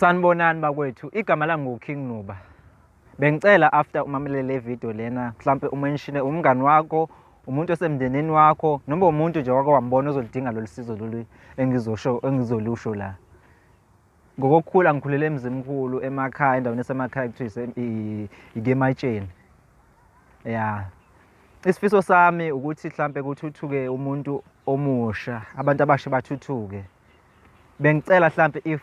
Sanibonani bakwethu, igama lami nguKing Nuba. Bengicela after umamele le video lena, mhlampe umenshine umngani wakho, umuntu osemndenini wakho, noma umuntu nje wake wambona ozolidinga lolu sizo lolu engizosho engizolusho la. Ngokokukhula ngikhulele eMzimkhulu emakhaya endaweni esemakhaya kuthiwa iKematsheni. Ya. Isifiso sami ukuthi mhlampe kuthuthuke umuntu omusha, abantu abasha bathuthuke. bengicela hlampe if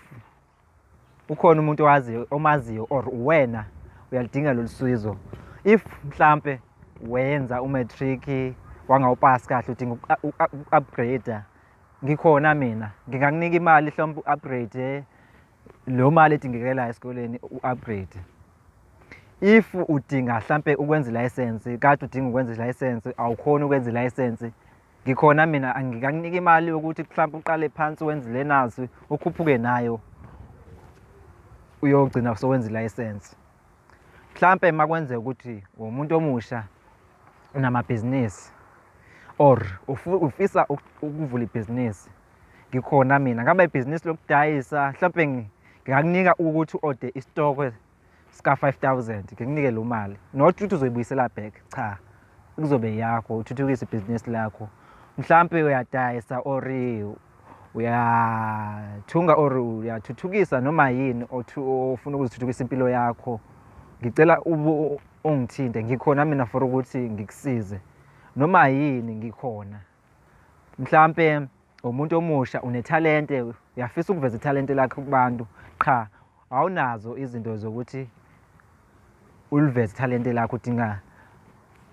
ukhona umuntu owaziyo omaziyo or wena uyalidinga lolusizo if mhlampe wenza umatric wangawupass kahle udinga uku-upgrade ngikhona mina ngingakunika imali hlombe u-upgrade lo mali edingekelayo esikoleni u-upgrade if udinga hlampe ukwenza ilayisensi kade udinga ukwenza ilayisensi awukhoni ukwenza ilayisensi ngikhona mina angikakunika imali yokuthi mhlawumbe uqale phansi wenze le nazi ukhuphuke nayo uyogcina sowenza ilayisensi mhlawumpe uma kwenzeka ukuthi womuntu omusha unamabhizinisi or ufisa ukuvula ibhizinisi ngikhona mina ngaba ibhizinisi lokudayisa mhlawumpe ngingakunika ukuthi u-ode isitokwe sika 5000 ngikunike lo mali not ukuthi uzoyibuyisela back cha kuzobe yakho uthuthukise ibhizinisi lakho mhlampe uyadayisa or uyathunga or uyathuthukisa noma yini ofuna ukuzithuthukisa impilo yakho ngicela ungithinte ngikhona mina for ukuthi ngikusize noma yini ngikhona mhlampe umuntu omusha unethalente uyafisa ukuveza ithalente lakhe kubantu qha awunazo izinto zokuthi uliveze ithalente lakho udinga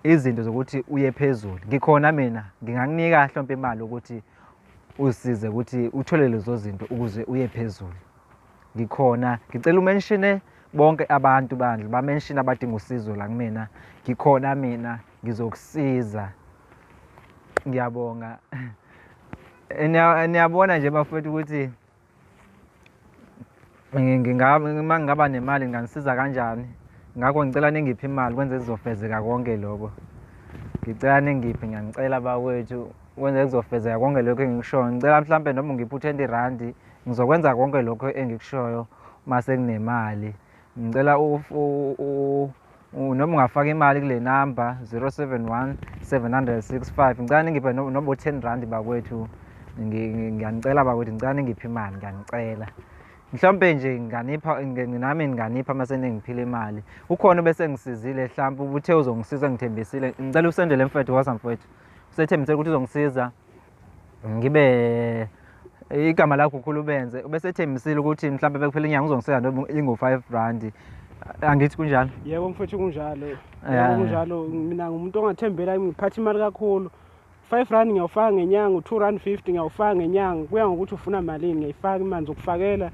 izinto zokuthi uye phezulu ngikhona mina ngingakunika hlompe imali ukuthi usize ukuthi uthole lezo zinto ukuze uye phezulu ngikhona ngicela umenshine bonke abantu bandla bamenshine abadinga usizo la kumina ngikhona mina ngizokusiza ngiyabonga niyabona nje bafowethu ukuthi uma ngingaba nemali nginganisiza kanjani ngakho ngicela ningiphe imali kwenze kuzofezeka konke lokho ngicela ningiphe ngiyanicela bawethu kwenze kuzofezeka konke lokho engikushoyo ngicela mhlawumpe noma ungiphe u-twenty randi ngizokwenza konke lokho engikushoyo uma sekunemali ngicela noma ungafaka imali kule namba 071 765 ngicela ningiphe noma u-10 rand bakwethu ngiyanicela bakwethu ngicela ningiphe imali ngiyanicela mhlawumpe nje nginganipha nami nginganipha uma seningiphile imali ukhona obese ngisizile mhlawumpe ubuthe uzongisiza ngithembisile ngicela usendele mfethu wasa mfethu usethembisele ukuthi uzongisiza ngibe igama lakho ukhulu ubenze ubesethembisile ukuthi mhlawumbe bekuphela inyanga uzongiseka noma ingu-five randi angithi kunjalo yebo mfethu kunjalo yebo kunjalo mina ngumuntu ongathembela ngiphatha imali kakhulu five rand ngiyawufaka ngenyanga u-two rand fifty ngiyawufaka ngenyanga kuya ngokuthi ufuna malini ngiyayifaka imali zokufakela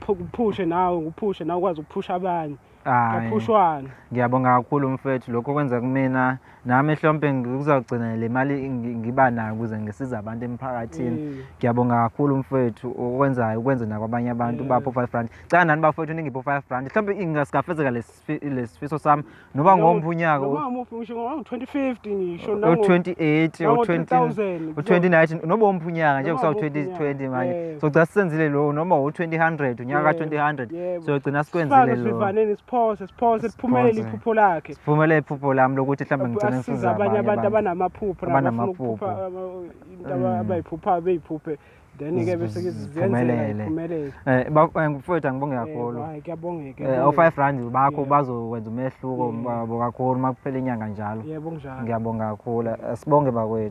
kuphushe nawe ngiphushe nawe ukwazi ukuphusha abanye Hayi. ngaphushwana Ngiyabonga kakhulu mfethu lokho kwenza kumina nami ehlompe ngizogcina le mali ngi- ngiba nayo ukuze ngisize abantu emphakathini. Mm. Ngiyabonga kakhulu mfethu okwenzayo ukwenze nakwabanye abantu Yeah. bapho 5 rand. Cela nani bafethu ningipho 5 rand. Mhlawumbe ingasikafezeka lesifi- lesifiso sami noba Noma- ngomuphi unyaka noma ngamuphi ngisho ngo-2050 ngisho nango- o-28 nango- o-20 2000. u-2019 noba omuphi unyaka nje Noma kusawu-2020 omuphi unyaka, manje yeah. sogcina sisenzile lowo noma u-2000 unyaka Yeah. ka-2000 Yebo. siyogcina sikwenzile Sifake lokho sivivaneni siphose siphose liphumelele Siphose. iphupho lakhe. siphumelele iphupho lami lokuthi mhlawumbe ngigcine Asize ngisiza abanye abanye abantu abantu abanamaphupho nabo bafuna ukuphupha Abanamaphupho. aba- into aba- Mm. abayiphuphayo beyiphuphe then ke bese ke zenzela Ziphumelele. iphumelele. Eh, ba- eh, mfowethu angibonge Yebo, kakhulu hayi, kuyabongeka. Eh, kuyabongeka. o-five rand bakho Yebo. bazokwenza umehluko Yeah. babo kakhulu uma kuphela inyanga njalo Yebo kunjalo. ngiyabonga kakhulu Eh, sibonge bakwethu